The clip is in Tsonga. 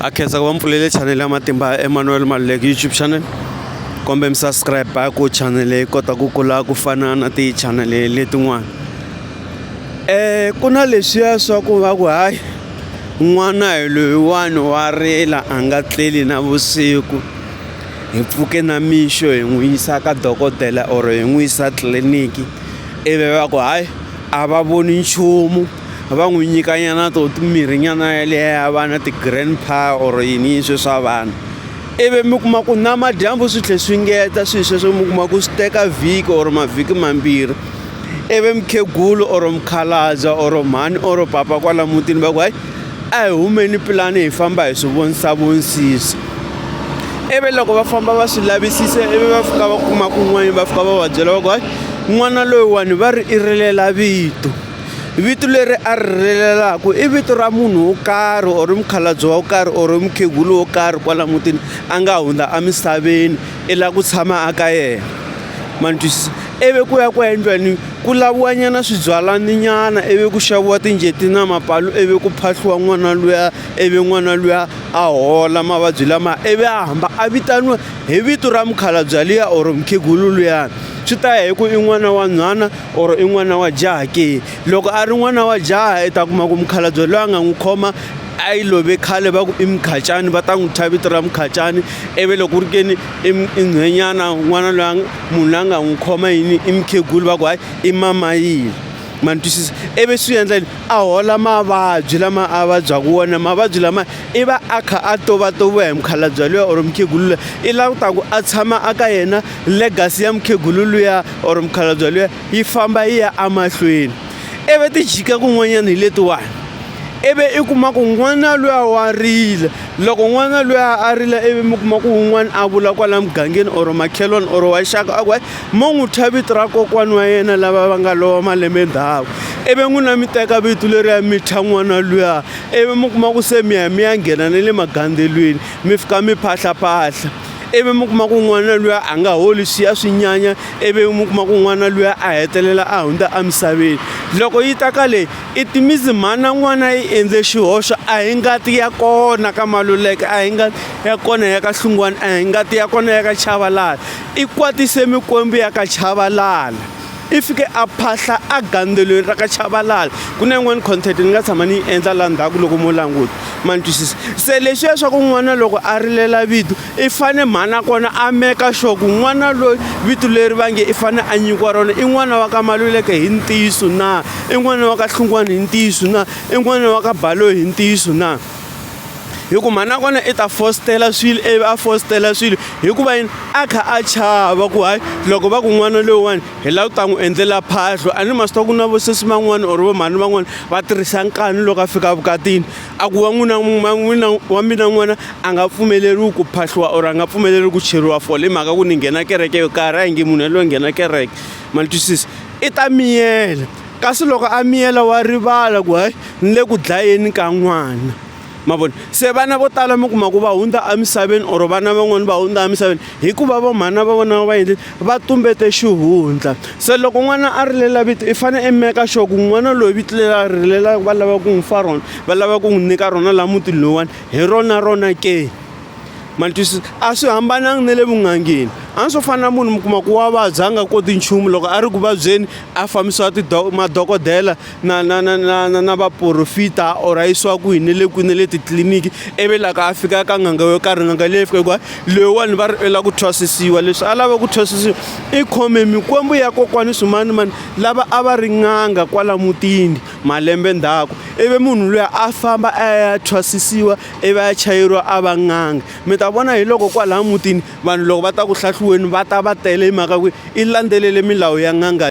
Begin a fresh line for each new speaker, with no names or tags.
a khensa ku va mpfulele chanele ya matimba ya emmanuel maluleki youtube channel kombe mi subscribe ku chanele yi kota ku kula ku fana na tichanele letin'wana um ku na leswiya swa ku va ku hayi n'wana hi loyiwani wa rila a nga tleli na vusiku hi pfuke na mixo hi n'wi yisa ka dokodela or hi n'wi yisa tliliniki ivi va ku hayi a va voni nchumu va n'wi nyikanyana to mirhinyana yaleya va na ti-grand pa or yini swe swa vanhu ivi mi kuma ku namadyambu swi tlhe swi ngeta swilo sweswo mi kuma ku swi teka vhiki or mavhiki mambirhi ivi mukhegulu or mukhalabya or mhani or papa kwala mutini va ku hayi a hi humeni pulani hi famba hi swi vonisa vonisisa ivi loko va famba va swi lavisisa ivi va fika va kuma kun'wana va fika va va byela va ku hayi n'wana loyiwani va ri i rilela vito vito leri a ri rilelaka i vito ra munhu wo karhi or mukhalabye wo karhi or mukhegulu wo karhi kwala mutini a nga hundza emisaveni i lava ku tshama a ka yena ma ni twisisa ivi ku ya ku ya endliwani ku laviwanyana swibyalaninyana ivi ku xaviwa tinjeti na mapalu ivi ku phahliwa n'wana luya ivi n'wana luya a hola mavabyi lama ivi a hamba a vitaniwa hi vito ra mukhalabye luya or mukhegulu luyani swi ta ya hi ku i n'wana wa nhwana or i n'wana wa jaha ke loko a ri n'wana wa jaha i ta kuma ku mukhalabye loyi a nga n'wi khoma a yi love khale va ku i mukhacani va ta n'wi thya vito ra mukhacani ivi loko ku ri keni i nhwenyana n'wana loyi munhu loyi a nga n'wi khoma yini i mukhegulu va ku hayi i mamayini ma ni twisisa ivi swi endla yini a hola mavabyi lama a vabyaka wona mavabyi lama i va a kha a tovatoviwa hi mukhalabye loyi or mukhegulu loyi i langutaku a tshama a ka yena legacy ya mukhegulu luya or mukhalabya luya yi famba yi ya emahlweni ivi ti jika kun'wanyana hi letiwani ivi i kuma ku n'wana luya wa rila loko n'wana luya a rila ivi mi kuma ku un'wana a vula kwala mugangeni or makhelwani or wa xaka a ku hayi mo n'wi thya vito ra kokwani wa yena lava va nga lova malembe ndhawu ivi n'wina mi teka vito leriya mi thya n'wana luya ivi mi kuma ku se mi ya mi ya nghena na le magandelweni mi fika mi phahlaphahla ivi mi kuma ku n'wana luya a nga holi swi ya swi nyanya ivi mi kuma ku n'wana luya a hetelela a hundza emisaveni loko yi ta ka leyi i timisi mhana n'wana yi endze xihoxo a hi ngati ya kona ka maluleke a hi ngati ya kona ya ka hlungwana a hi ngati ya kona ya ka chavalala i kwatise mikwembu ya ka chavalala i fike a phahla a gandzelweni ra ka chavalala ku na yin'wani content ni nga tshama ni yi endla laha ndzhaku loko mo languta ma ni twisisa se leswi ya swa ku n'wana loko a rilela vito i fane mhana kona a meka sure ku n'wana loyi vito leri va nge i fane a nyikiwa rona i n'wana wa ka maluleke hi ntiyiso na i n'wana wa ka hlungwani hi ntiyiso na i n'wana wa ka baloyi hi ntiyiso na hi ku mhani nakona i ta fositela swilo ivi a fositela swilo hikuva yini a kha a chava ku hayi loko va ku n'wana loyiwani hi lava ku ta n'wi endlela phahlo a ni masita ku na vosesi van'wana or vamhani van'wana va tirhisa nkani loko a fika vukatini a ku wa n'wina n'wina wa mina n'wana a nga pfumeleriwi ku phahliwa or a nga pfumeleriwi ku cheriwa fole hi mhaka ku ni nghena kereke yo karhi a hi nge munhu yaloye nghena kereke ma ni twisisa i ta miyela Kasi loko a miyela wa rivala ku hayi ni le ku dlayeni ka n'wana ma vona se vana vo tala mi kuma ku va hundza emisaveni or vana van'wani va hundza emisaveni hikuva va mhana va vona va endle va tumbete xihundla se loko n'wana a rilela vito i fanele i meka sure ku n'wana loyi vito leri a rilelaka va lava ku n'wi fa rona va lava ku n'wi nyika rona laha mutini lowuwani hi rona rona ke. ma ni twisisa a swi hambananga na le vun'angeni a ni swo fana na munhu mi kuma ku wa vabya a nga koti nchumu loko a ri ku vabyeni a fambisiwa tido madokodela na na na na na na vaporofita or a yisiwa kwihi ni le kwihi ni le titliliniki ivi loko a fika ka n'anga yo karhi n'anga leyi fika hikuva loyiwani va ri u lava ku thwasisiwa leswi a lava ku thwasisiwa i khome mikwembu ya kokwani swimanimani lava a va ri n'anga kwala mutini malembe ndzhaku ivi munhu luya a famba a ya thwasisiwa ivi a ya chayeriwa a va n'anga. Mi ta vona hi loko kwalaya mutini vanhu loko va ta ku hlahluweni va ta va tele hi mhaka ku i landzelele milawu ya n'anga.